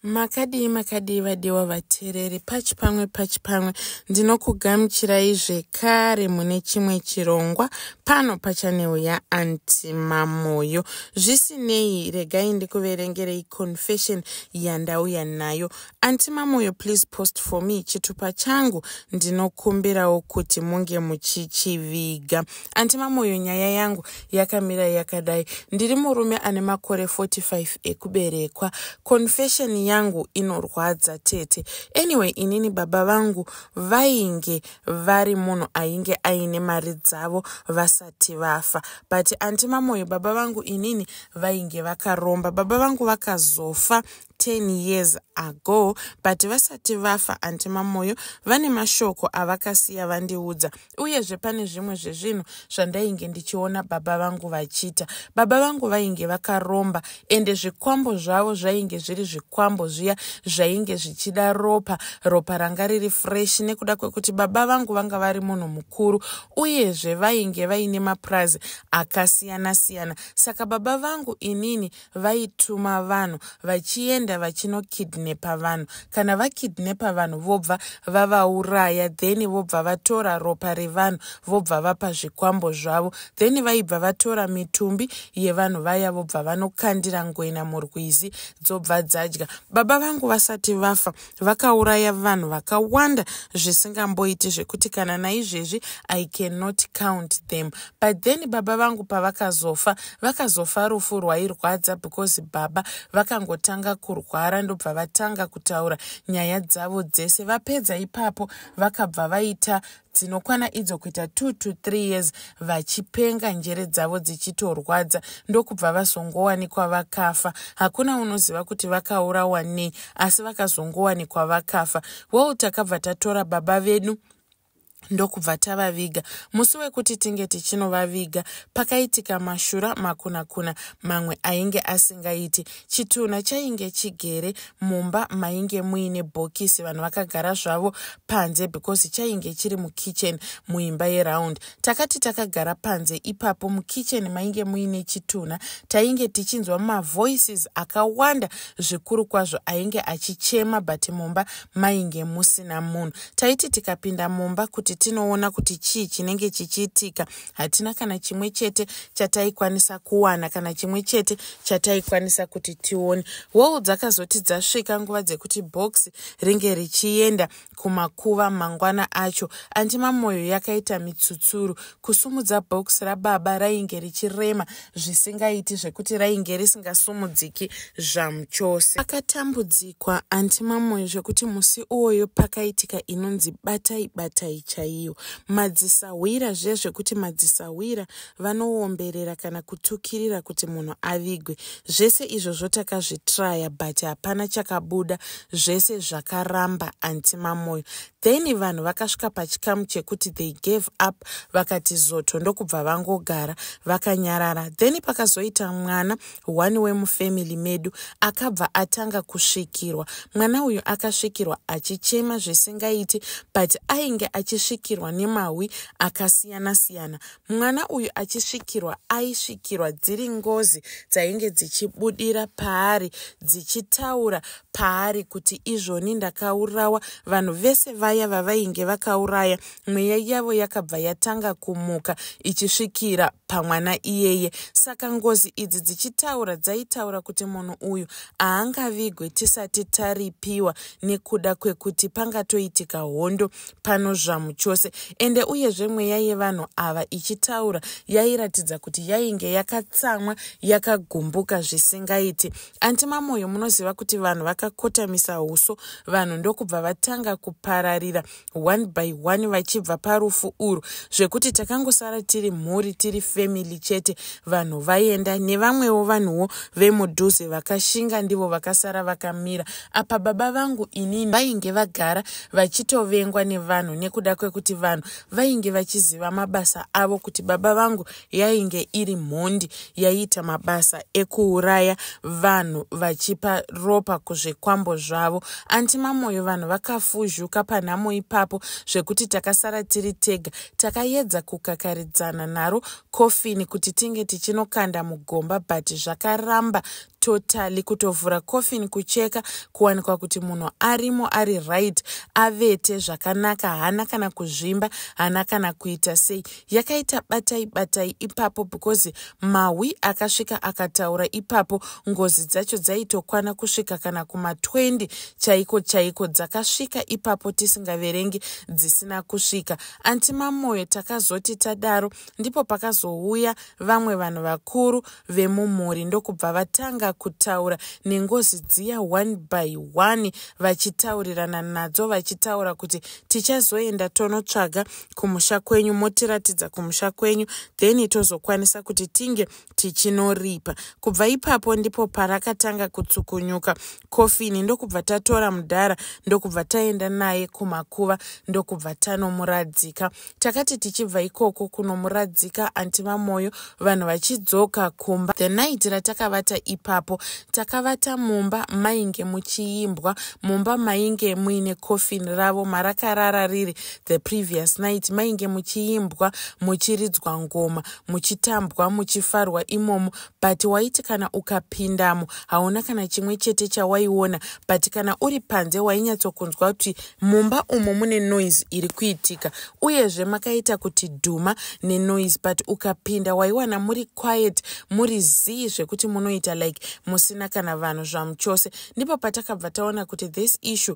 makadii makadii vadiwa vateereri pachi pamwe pachi pamwe ndinokugamuchirai zvekare mune chimwe chirongwa pano pachaneu yaanti mamoyo zvisinei regai ndikuverengerei confession yandauya nayo anti mamoyo please post for me chitupa changu ndinokumbirawo kuti munge muchichiviga anti mamoyo nyaya yangu yakamira yakadai ndiri murume ane makore 45 ekuberekwa confession yangu inorwadza tete anyway inini baba vangu vainge vari munhu ainge aine mari dzavo vasati vafa but anti mamoyo baba vangu inini vainge vakaromba baba vangu vakazofa 10 years ago but vasati vafa anti mamoyo vane mashoko avakasiya vandiudza uyezve pane zvimwe zvezvinhu zvandainge ndichiona baba vangu vachiita baba vangu vainge vakaromba ende zvikwambo zvavo zvainge zviri zvikwambo zviya zvainge zvichida ropa ropa ranga riri fresh nekuda kwekuti baba vangu vanga vari munhu mukuru uyezve vainge vaine mapurazi akasiyana siyana saka baba vangu inini vaituma vanhu vachienda vachinokidnepa vanhu kana vakidnepa vanhu vobva vavauraya then vobva vatora ropa revanhu vobva vapa zvikwambo zvavo then vaibva vatora mitumbi yevanhu vaya vobva vanokandira ngoina murwizi dzobva dzadya baba vangu vasati vafa vakauraya vanhu vakawanda zvisingamboiti zvekuti kana naizvezvi i cannot count them but then baba vangu pavakazofa vakazofa rufu rwairwadza because baba vakangotanga kurwara ndobva vatanga kutaura nyaya dzavo dzese vapedza ipapo vakabva vaita dzinokwana idzo kuita two to three years vachipenga njere dzavo dzichitorwadza ndokubva vazongowanikwa vakafa hakuna unoziva kuti vakaurawa nei asi vakazongowanikwa vakafa well takabva tatora baba vedu ndokubva tavaviga musi wekuti tinge tichinovaviga pakaitika mashura makunakuna mamwe ainge asingaiti chitunha chainge chigere mumba mainge muine bhokisi vanhu vakagara zvavo panze because chainge chiri mukitchen muimba yeround takati takagara panze ipapo mukitchen mainge muine chitunha tainge tichinzwa mavoices akawanda zvikuru kwazvo ainge achichema but mumba mainge musina munhu taiti tikapinda mumba kuti tinoona kuti chii chinenge chichiitika hatina kana chimwe chete chataikwanisa kuwana kana chimwe chete chataikwanisa kuti tione woo dzakazoti dzasvika nguva dzekuti box ringe richienda kumakuva mangwana acho andima mwoyo yakaita mitsutsuru kusumudza box rababa rainge richirema zvisingaiti zvekuti rainge risingasumudziki zvamuchose akatambudzikwa anti mamoyo zvekuti musi uwoyo pakaitika inonzi batai batai chaiyo madzisahwira zviya zvekuti madzisahwira vanoomberera kana kutukirira kuti munhu avigwe zvese izvozvo takazvitraya but hapana chakabuda zvese zvakaramba anti mamoyo then vanhu vakasvika pachikamu chekuti they gave up vakati zoto ndokubva vangogara vakanyarara then pakazoita mwana one wemufamily medu akabva atanga kusvikirwa mwana uyu akasvikirwa achichema zvisingaiti but ainge achisvikirwa nemahwi akasiyana siyana mwana uyu achisvikirwa aisvikirwa dziri ngozi dzainge dzichibudira paari dzichitaura paari kuti izvoni ndakaurawa vanhu vese vaya vavainge vakauraya mweya yavo yakabva yatanga kumuka ichisvikira pamwana iyeye saka ngozi idzi dzichitaura dzaitaura kuti munhu uyu haangavigwe tisati taripiwa nekuda kwekuti pangatoitika hondo pano zvamu chose ende uyezve mweya yevanhu ava ichitaura yairatidza kuti yainge yakatsamwa yakagumbuka zvisingaiti anti mamoyo munoziva kuti vanhu vakakotamisa uso vanhu ndokubva vatanga kupararira one by one vachibva parufu urwu zvekuti takangosara tiri mhuri tiri family chete vanhu vaenda nevamwewo vanhuwo vemudhuze vakashinga ndivo vakasara vakamira apa baba vangu inini vainge vagara vachitovengwa nevanhu nekuda kwekuti vanhu vainge vachiziva mabasa avo kuti baba vangu yainge iri mhondi yaiita mabasa ekuuraya vanhu vachipa ropa kuzvikwambo zvavo anti mamoyo vanhu vakafuzhuka panhamo ipapo zvekuti takasara tiri tega takayedza kukakaridzana naro kofini kuti tinge tichinokanda mugomba but zvakaramba totally kutovhura coffin kucheka kuwanikwa kuti munhu arimo ari right avete zvakanaka haana kana kuzvimba haana kana kuita sei yakaita batai batai ipapo because mahwi akasvika akataura ipapo ngozi dzacho dzaitokwana kusvika kana kuma20 chaiko chaiko dzakasvika ipapo tisingaverengi dzisina kusvika anti mamoyo takazoti tadaro ndipo pakazouya vamwe vanhu vakuru vemumhuri ndokubva vatanga kutaura nengozi dziya one by one vachitaurirana nadzo vachitaura kuti tichazoenda tonotsvaga kumusha kwenyu motiratidza kumusha kwenyu then tozokwanisa kuti tinge tichinoripa kubva ipapo ndipo parakatanga kutsukunyuka kofini ndokubva tatora mudhara ndokubva taenda naye kumakuva ndokubva tanomuradzika takati tichibva ikoko kunomuradzika anti vamoyo vanhu vachidzoka kumba the night ratakavata ipapo takavata mumba mainge muchiimbwa mumba mainge muine kofini ravo marakarara riri the previous night mainge muchiimbwa muchiridzwa ngoma muchitambwa muchifarwa imomo but waiti kana ukapindamo hauna kana chimwe chete chawaiona but kana uri panze wainyatsokunzwa kuti mumba umo mune noise iri kuitika uyezve makaita kuti dhuma nenoise but ukapinda waiwana muri quiet muri zii zvekuti munoita like musina kana vanhu zvamuchose ndipo patakabva taona kuti this issue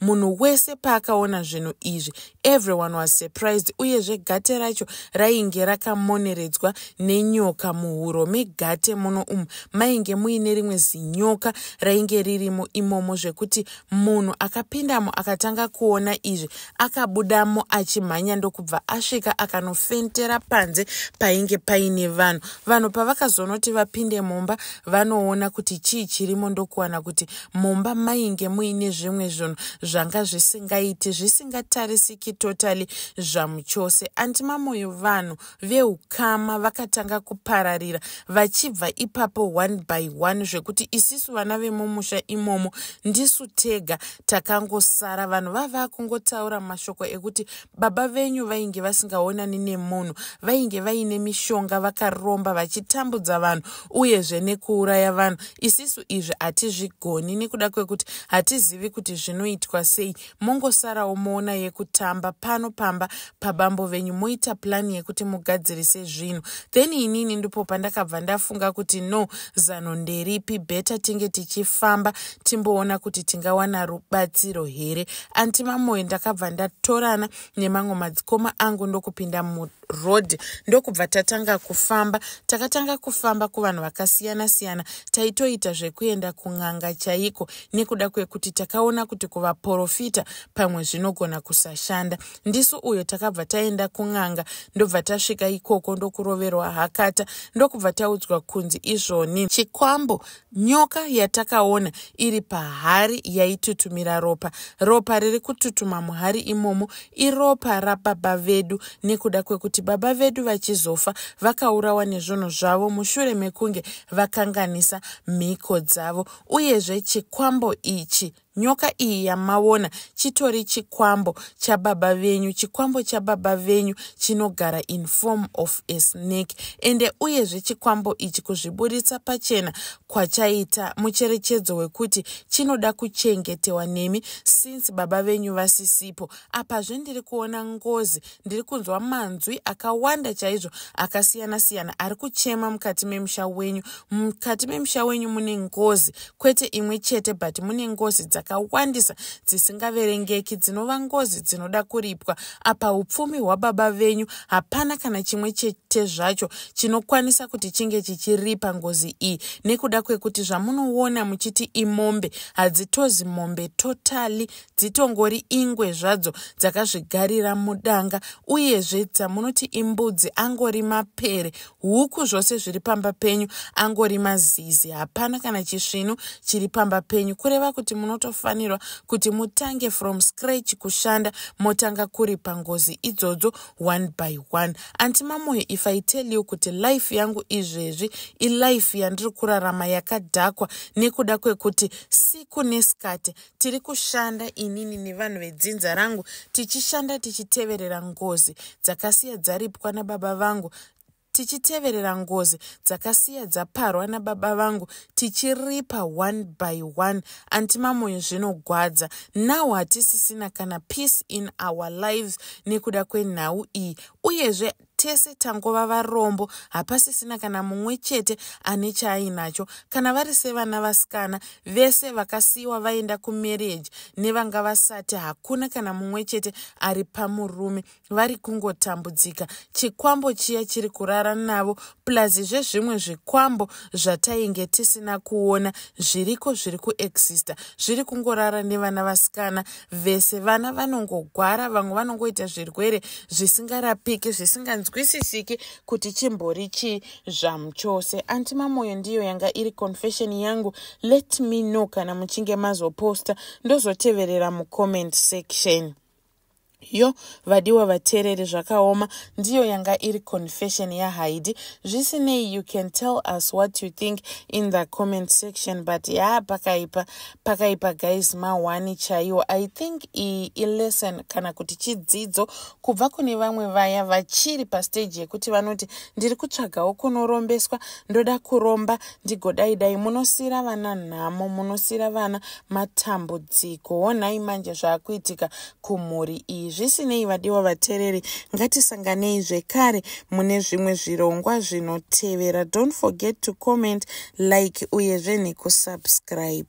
munhu wese paakaona zvinhu izvi everyone was surprised uyezve gate racho rainge rakamoneredzwa nenyoka muhuro megate muno umu mainge muine rimwe zinyoka rainge ririmo imomo zvekuti munhu akapindamo akatanga kuona izvi akabudamo achimhanya ndokubva asvika akanofentera panze painge paine vanhu vanhu pavakazonoti vapinde mumba vanoona kuti chii chirimo ndokuwana kuti mumba mainge muine zvimwe zvinhu zvanga zvisingaiti zvisingatarisiki totally zvamuchose anti mamoyo vanhu veukama vakatanga kupararira vachibva ipapo one by one zvekuti isisu vana vemumusha imomo ndisu tega takangosara vanhu vava kungotaura mashoko ekuti baba venyu vainge vasingaonani nemunhu vainge vaine mishonga vakaromba vachitambudza vanhu uyezve nekuuraya vanhu isisu izvi hatizvigoni nekuda kwekuti hatizivi kuti zvinoitwa sei mongosarawo moona yekutamba pano pamba pabambo venyu moita plani yekuti mugadzirise zvinhu then inini ndipo pandakabva ndafunga kuti no zano nderipi beta tinge tichifamba timboona kuti tingawana rubatsiro here anti mamoyo ndakabva ndatorana nemamwe madzikoma angu ndokupinda muroad ndokubva tatanga kufamba takatanga kufamba kuvanhu vakasiyana siyana taitoita zvekuenda kun'anga chaiko nekuda kwekuti takaona kuti kuvaporofita pamwe zvinogona kusashanda ndisu uyo takabva taenda kun'anga ndobva tasvika ikoko ndokuroverwa hakata ndokubva taudzwa kunzi izvoni chikwambo Nyoka yatakaona iri pahari yaitutumira ropa. Ropa riri kututuma muhari imomo iropa rababa vedu nekuda kwekuti baba vedu vachizofa vakaurawa nezvunhu zvavo mushure mekunge vakanganisa mhiko dzavo. Uyezve chikwambo ichi Nyoka iyi yamavona chitori chikwambo chababa venyu. Chikwambo chababa venyu chinogara in form of a snake. Ende uyezve chikwambo ichi kuzviburitsa pachena kwachaita mucherechedzo wekuti chinoda kuchengetewa nemi since baba venyu vasisipo. Apazve ndiri kuona ngozi ndiri kunzwa manzwi akawanda chaizvo akasiyana siyana ari kuchema mukati memusha wenyu mukati memusha wenyu mune ngozi kwete imwe chete but mune ngozi dzakawandisa dzisingaverengeki dzinova ngozi dzinoda kuripwa apa upfumi hwababa venyu hapana kana chimwe chete zvacho chinokwanisa kuti chinge chichiripa ngozi iyi nekuda kwekuti zvamunoona muchiti imombe hadzitozi mombe totally dzitongori ingwe zvadzo dzakazvigarira mudanga uyezve dzamunoti imbudzi angori mapere huku zvose zviri pamba penyu angori mazizi hapana kana chisvinu chiri pamba penyu kureva kuti munotofanirwa kuti mutange from scratch kushanda motanga kuri pangozi idzodzo one by one anti mamoyo if i tell you kuti life yangu izvezvi ilife yandiri kurarama yakadhakwa nekuda kwekuti siku nesikati tiri kushanda inini nevanhu vedzinza rangu tichishanda tichiteverera ngozi dzakasiya dzaripwa nababa vangu tichiteverera ngozi dzakasiya dzaparwa nababa vangu tichiripa one by one antimamoyo zvinogwadza now hatisisina kana peace in our lives nekuda kwenhau iyi uyezve tese tangova varombo hapasisina kana mumwe chete ane chaainacho kana vari sevana vasikana vese vakasiyiwa vaenda kumarriage nevanga vasati hakuna kana mumwe chete ari pamurume vari kungotambudzika chikwambo chiya chiri kurara navo plus zvezvimwe zvikwambo zvatainge tisina kuona zviriko zviri kuexista zviri kungorara nevana vasikana vese vana vanongogwara vamwe vanongoita zvirwere zvisingarapiki zvisinganzwisisiki kuti chimbori chii zvamu chose anti mamoyo ndiyo yanga iri confession yangu let me know kana muchinge mazoposta ndozoteverera mucomment section Yo, vadiwa vateereri zvakaoma ndiyo yanga iri confession yaHaidi. Zvisinei you can tell us what you think in the comment section but yaa pakaipa pakaipa guys mahwani chaiwo. I think iyi ilesson kana kuti chidzidzo kubva kune vamwe vaya vachiri pastage yekuti vanoti ndiri kutsvagawo kunorombeswa ndoda kuromba ndigodai dai munosiira vana nhamo munosiira vana matambudziko honai manje zvaakuitika kumhuri iyi zvisinei vadiwa vatereri ngatisanganei zvekare mune zvimwe zvirongwa zvinotevera don't forget to comment like uyezve nekusubscribe